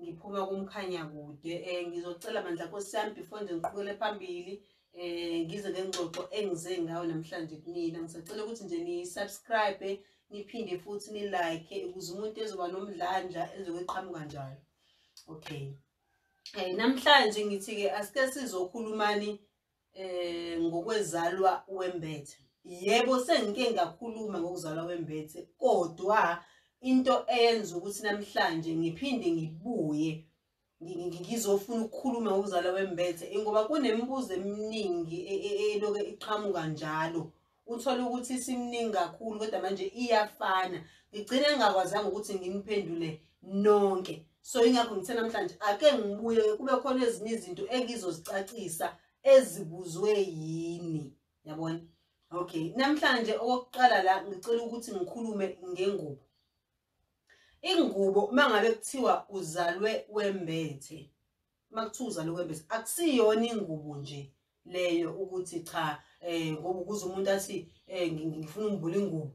ngiphuma kumkhanya kude um ngizocela bandla nkosi yami before nje ngiqhukele phambili um ngize ngengxoxo engize ngayo namhlanje kunina ngisacela ukuthi nje ni-subscribe niphinde futhi nilike ukuze umuntu ezoba nomdlandla ezokuqhamuka njalo okay um namhlanje ngithi-ke asike sizokhulumani eh ngokwezalwa wembethe yebo sengike ngakhuluma ngokuzalwa wembethe kodwa into eyenza ukuthi namhlanje ngiphinde ngibuye ngizofuna ukukhuluma ngokuzalwa wembethe ingoba kunemibuzo eminingi e, e, eloke iqhamuka njalo uthole ukuthi isimningi kakhulu kodwa manje iyafana ngigcine ngingakwazanga ukuthi nginiphendule nonke so ingakho ngithe namhlanje ake ngibuye kube khona ezinye izinto engizozicacisa ezibuzwe yini yabona okay namhlanje okokuqala la ngicela ukuthi ngikhulume ngengubo ingubo mangabe kuthiwa uzalwe wembethe uma kuthiwa uzala ukwembesa akusiyona ingubo nje leyo ukuthi cha um ngoba ukuze umuntu athi um ngifuna umbula ingubo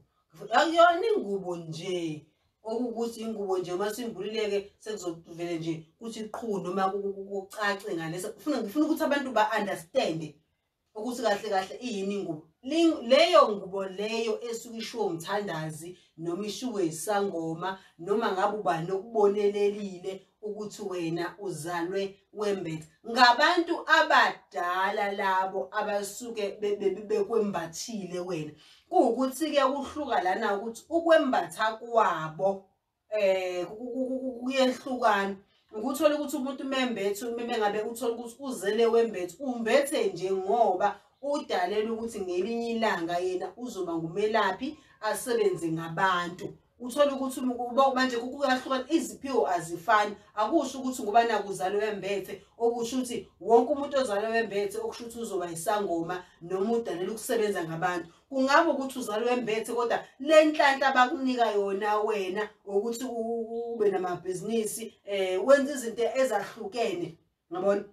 akuyona ingubo nje okukuthi ingubo nje uma simbululeke sekuzovele nje kuthi qhu noma kucace ngalesa ngifuna ukuthi abantu ba-understande ukuthi kahle kahle iyini ingubo leyo ngubo leyo esuke ishiwo umthandazi noma ishiwo isangoma noma ngabe ubani okubonelelile ukuthi wena uzalwe wembethe ngabantu abadala labo abasuke bekwembathile wena kuwukuthi-ke kuhluka lana ukuthi ukwembatha kwabo eh kuyehlukana ukuthola ukuthi umuntu umembethe umeme ngabe uthola ukuthi uzele wembethe umbethe nje ngoba udalela ukuthi ngelinye ilanga yena uzoba ngumelaphi asebenze ngabantu uthola ukuthi manje kuyahlukana iziphiwo azifani akusho ukuthi ngoba nakuzalo wembethe okusho ukuthi wonke umuntu ozalo wembethe okusho ukuthi uzoba isangoma noma udalela ukusebenza ngabantu kungaba ukuthi uzalwa embethe kodwa le nhlanhla abakunika yona wena ukuthi ube namabhizinisi um wenza izinto ezahlukene ngabona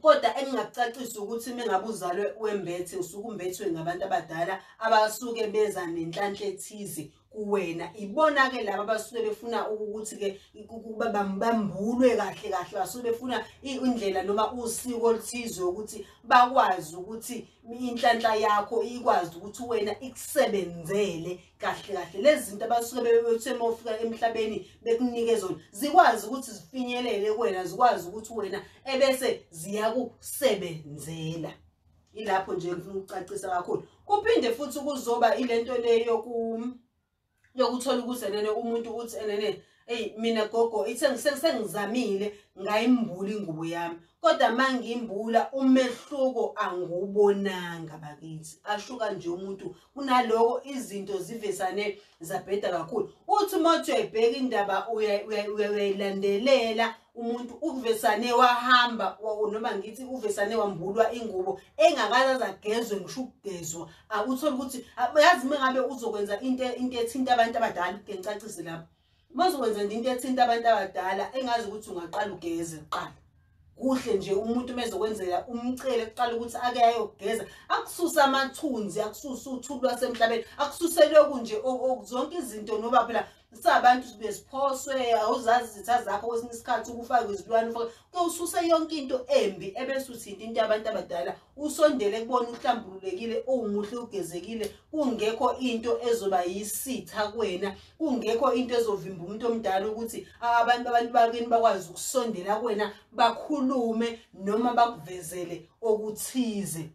kodwa engingakucacisa ukuthi uma ngabe uzalwe wembethe usuke umbethwe ngabantu abadala abasuke beza nenhlanhla ethize kuwena ibona ke laba basuke befuna ukuthi ke ukuba bambambulwe kahle kahle basuke befuna indlela noma usiko oluthize ukuthi bakwazi ukuthi inhlanhla yakho ikwazi ukuthi wena ikusebenzele kahle kahle lezi zinto abasuke bebethe uma ufika emhlabeni bekunike zona zikwazi ukuthi zifinyelele kuwena zikwazi ukuthi wena ebese ziyakusebenzela yilapho nje ngifuna ukucacisa kakhulu kuphinde futhi kuzoba ilento le yoku yokuthola ukuthi enene umuntu uthi enene eyi mina gogo ithe sengizamile ngayimbula ingubo yami kodwa uma ngimbula umehluko angiwubonanga bakithi asho kanje umuntu kunaloko izinto zivesane zabheda kakhulu uthi uma uthi uyayibheka indaba uyayilandelela umuntu uvesane wahamba noma ngithi uvesane wambulwa ingubo engakazaza agezwe ngisho ukugezwa akuthole ukuthi yazi uma ngabe uzokwenza into into ethinta abantu abadala ke ngicacise lapho uma uzokwenza into ethinta abantu abadala engazi ukuthi ungaqala ugeze kuqala kuhle nje umuntu mezokwenzela umcele kuqala ukuthi ake ayogeza akususe amathunzi akususe uthuli lwasemhlabeni akususe lokhu nje zonke izinto noba phela sabantu besiphoswe awuzazi izitha zakho kwesinye isikhathi ukufake izilwane ufake kuyowususa yonke into embi ebese uthinta into yabantu abadala Usondele kubona uhlambululekile, uwumuhle ugezekile, kungekho into ezoba yisitha kwena, kungekho into ezovimba umuntu omdala ukuthi abantu abantu bakini bakwazi ukusondela kwena bakhulume noma bakuvezele okuthize.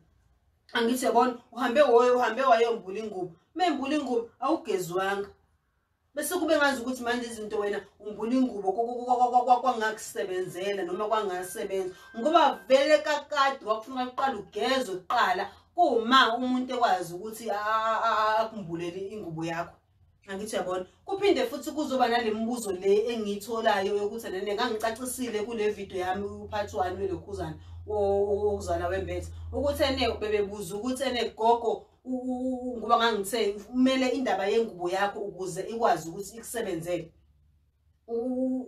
Angithi yabona uhambe woyo uhambe wayombula ingubo. Membula ingubo awugezwanga. Bese kube ngazi ukuthi manje izinto wena umbuna ingubo kwangakusebenzela noma kwangasebenza ngoba vele kakade wakufuna uqala ugeze kuqala kuma umuntu ekwazi ukuthi akumbulele ingubo yakho angithi uyabona kuphinde futhi kuzoba nale mibuzo le engiyitholayo yokuthi nene ngangicacisile kule video yami uphathi wani welokhuzana wokuzala wembethe ukuthi ene bebebuza ukuthi ene gogo ngoba ngangithe kumele indaba yengubo yakho ukuze ikwazi ukuthi ikusebenzele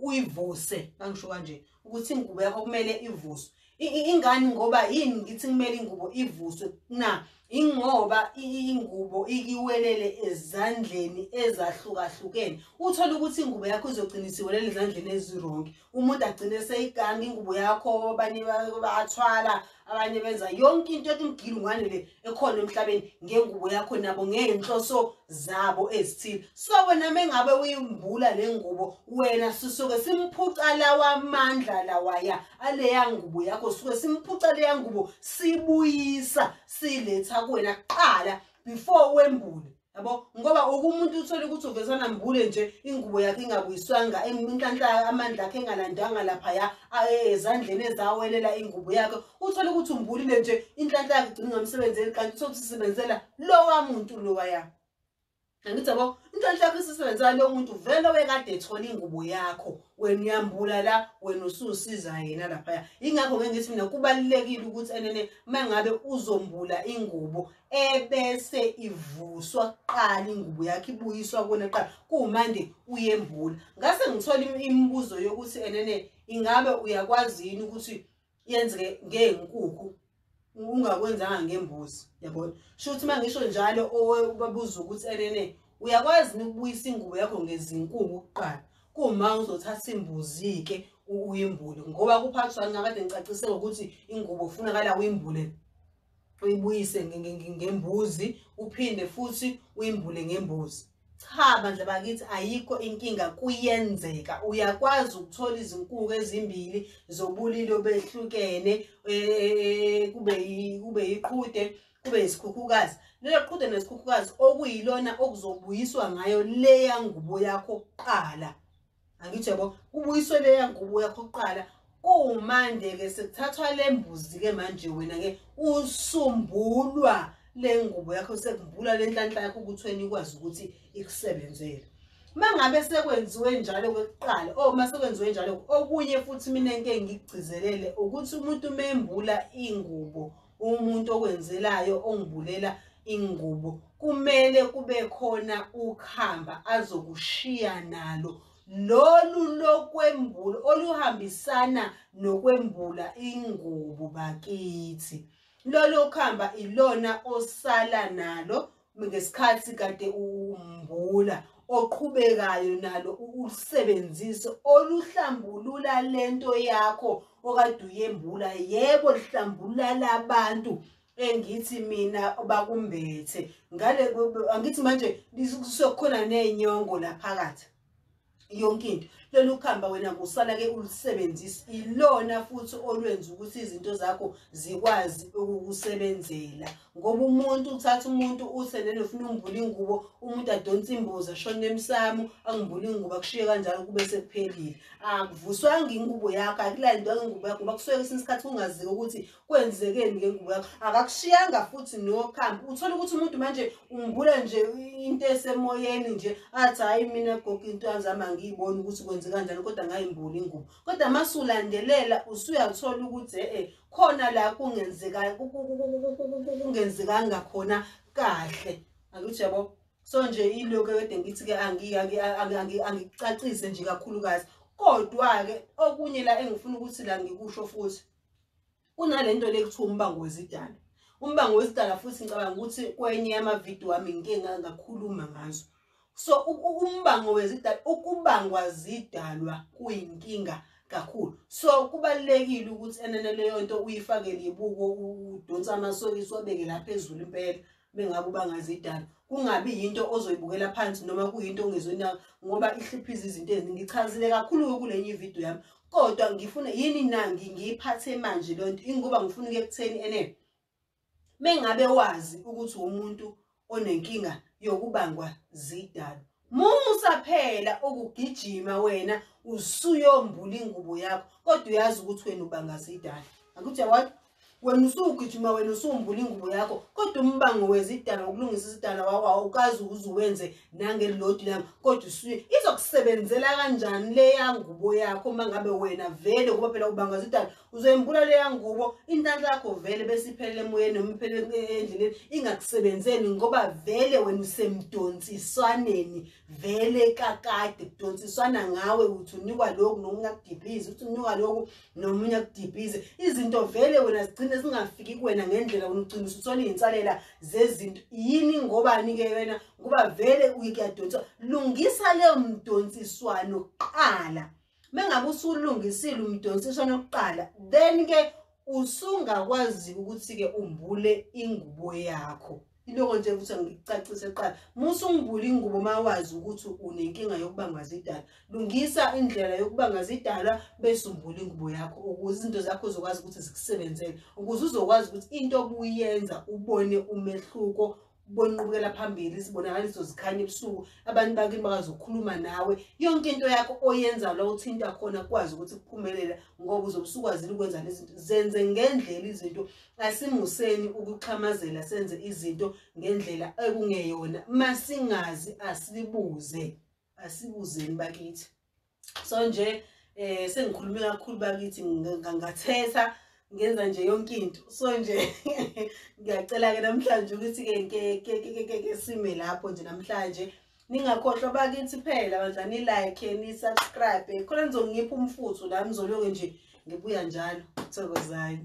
uyivuse ngangisho kanje ukuthi ingubo yakho kumele ivuswe ingani ngoba yini ngithi kumele ingubo ivuswe na ingoba ingubo ikiwelele ezandleni ezahlukahlukene uthola ukuthi ingubo yakho izogcina isiwelele ezandleni ezironke umuntu agcine seyiganga ingubo yakho abanye bathwala abanye benza yonke into ethi mgili ngwane le ekhona emhlabeni ngengubo yakho nabo ngeenhloso zabo ezithile so wena mengabe uyimbula le ngubo wena sisuke simphuca lawa amandla lawaya aleya ngubo yakho suke simphuca leya ngubo sibuyisa siletha kuwena kuqala before wembule yabo ngoba oke umuntu uthole ukuthi uvezana mbule nje ingubo yakhe ingabuyiswanga inhlanhla amandla akhe engalandanga laphaya ezandleni ezawelela ingubo yakhe uthole ukuthi umbulile nje inhlanhla yakhe igcina ingamsebenzeli kanti uthole ukuthi isebenzela lowa muntu lowa ya angithi yabo inhlanhla yakho isisebenzela lowo muntu vele wekade ethola ingubo yakho wena uyambula la wena ususiza yena laphaya ingakho ngeke ngithi mina kubalulekile ukuthi enene mangabe uzombula ingubo ebese ivuswa kuqala ingubo yakhe ibuyiswa kona kuqala kuwumande uyembula ngase ngithola imibuzo yokuthi enene ingabe uyakwazi yini ukuthi yenzeke ngeenkukhu ungakwenzanga ngembuzi yabona sho ukuthi uma ngisho njalo obabuza ukuthi enene uyakwazi yini ukubuyisa ingubo yakho ngezinkungu kuqala kuma uzothatha imbuzi-ke uyimbule ngoba kuphathwa ngakade ngicacise ngokuthi ingubo kufunakala uyimbule uyibuyise ngembuzi uphinde futhi uyimbule ngembuzi cha bandla bakithi ayikho inkinga kuyenzeka uyakwazi ukuthola izinkuku ezimbili zobulili obehlukene eh, kube kube iqhude kube isikhukhukazi lelo qhude nesikhukhukazi okuyilona okuzobuyiswa ngayo leya ngubo yakho kuqala angithi yabo kubuyiswe leya ngubo yakho kuqala kumanje-ke sekuthathwa le mbuzi-ke manje wena-ke usumbulwa le ngubo yakho sekumbula le nhlanhla yakho ukuthi wena ikwazi ukuthi ikusebenzele uma ngabe sekwenziwe njalo kokuqala o oh, uma sekwenziwe njalo okunye futhi mina ngike ngigcizelele ukuthi umuntu uma embula ingubo umuntu okwenzelayo ongibulela ingubo kumele kube khona ukhamba azokushiya nalo lolu lokwembula oluhambisana nokwembula ingubo bakithi lolo khamba ilona osala nalo ngesikhathi kade umbula oqhubekayo nalo ulusebenzise oluhlambulula lento yakho okade uyembula yebo lihlambulula labantu engithi mina bakumbethe ngale angithi manje kusukhona nenyongo la phakathi yonke into lolu khamba wena kusala ke ulusebenzisa ilona futhi olwenza ukuthi izinto zakho zikwazi ukukusebenzela ngoba umuntu uthatha umuntu uthe nene ufuna umbula ingubo umuntu adonsa imbuzi ashone emsamo angimbula ingubo akushiye kanjalo kube sekuphelile akuvuswanga ingubo yakho akulandwanga ingubo yakho ngoba kusuke kwesinye isikhathi kungaziwa ukuthi kwenzekeni ngengubo yakho akakushiyanga futhi nokhambi uthole ukuthi umuntu manje umbula nje into esemoyeni nje athi hhayi mina gogo into yanzami angiyiboni ukuthi kwenze kanjani kodwa ngayimbula ingubo kodwa uma sulandelela usuyathola ukuthi e-e khona la kungenzekanga khona kahle angithi yabo so nje iloku kade ngithi-ke angicacise nje kakhulukazi kodwa-ke okunye la engifuna ukuthi la ngikusho futhi kunalento lekuthiwa umbango wezidalwa umbango wezidalwa futhi ngicabanga ukuthi kwenye yamavidiyo wami ngike ngakhuluma ngazo so umbango wezidalwa ukubangwa zidalwa kuyinkinga kakhulu so kubalekile ukuthi enene leyo nto uyifakele ibuko udonsa amasokisi wabeke lapha ezulu impela bengabe ubangazi idala kungabi yinto ozoyibukela phansi noma kuyinto ongezwena ngoba ihliphiza izinto eziningi ngichazile kakhulu-ke kule nye ividiyo yami kodwa ngifuna yini na ngiyiphathe manje leyo nto ingoba ngifuna ukuya ekutheni ene mengabe wazi ukuthi umuntu onenkinga yokubangwa zidalo Musa phela ukugijima wena usuyombula ingubo yakho kodwa uyazi ukuthi wena ubangaza idala. Akuthi yawona wena usugijima wena usumbula ingubo yakho kodwa umbango wezidala ukulungisa isidala wawa ukazi uzuwenze nangelodi lami kodwa usuye izokusebenzela kanjani leya ngubo yakho uma ngabe wena vele ngoba phela ubangaza idala uzoyimbula leya ngubo intanhla yakho vele bese iphelele emoyeni noma iphelele endleleni ingakusebenzeli ngoba vele wena usemdonsiswaneni vele kakade kudonsiswana ngawe ukuthi unikwa lokhu nomunye akudibhize ukuthi unikwa lokhu nomunye akudibhize izinto vele wena zigcine zingafiki kuwena ngendlela wena ugcina usuthola iy'nsalela zezinto yini ngobani-ke wena ngoba vele uyikuyadonsiswa lungisa leyo mdonsiswano kuqala mengabe usulungisile umdonsiswana okuqala then ke usungakwazi ukuthi ke umbule ingubo yakho iloko nje ukuthi ngicacise kuqala musa ungibule ingubo mawazi ukuthi unenkinga yokubanga zidala lungisa indlela yokubanga zidala bese umbule ingubo yakho ukuze izinto zakho uzokwazi ukuthi zikusebenzele ukuze uzokwazi ukuthi into obuyenza ubone umehluko kubona inqubekela phambili izibonakaliso zikhanye ebusuku abantu bakini bakwazi ukukhuluma nawe yonke into yakho oyenza la uthinta khona kwazi ukuthi kuphumelela ngoba uzobusukwazile ukwenza lezinto zenze ngendlela izinto asimuseni ukuxhamazela senze izinto ngendlela ekungeyona masingazi asibuze asibuzeni bakithi so nje eh sengikhulume kakhulu bakithi ngangathetha ngenza nje yonke into so nje ngiyacela ke namhlanje ukuthi ke ke ke ke sime lapho nje namhlanje ningakhohlwa bakithi phela bandla ni like ni subscribe khona nizongipha umfuthu la mzoloke nje ngibuya njalo thokozani